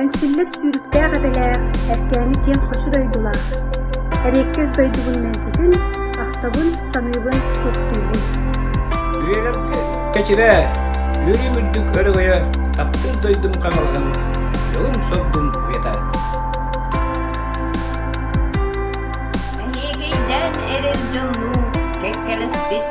Эҥсиллэс сүүрүктээх этэлээх, эркээни киэҥ хочу дойдулаах, эриэккэс дойдубун мэлдьитин, ахтабын, саныыбын, суохтуубун. Үйэлэргэ Кэчирэ, үөрүүм үрдүк өрөгөйө таптыыр дойдум хаҥалаһын, дьолум-соргум уйатар. Эйиигийдээн эрэр дьоннуу, кэккэлэспит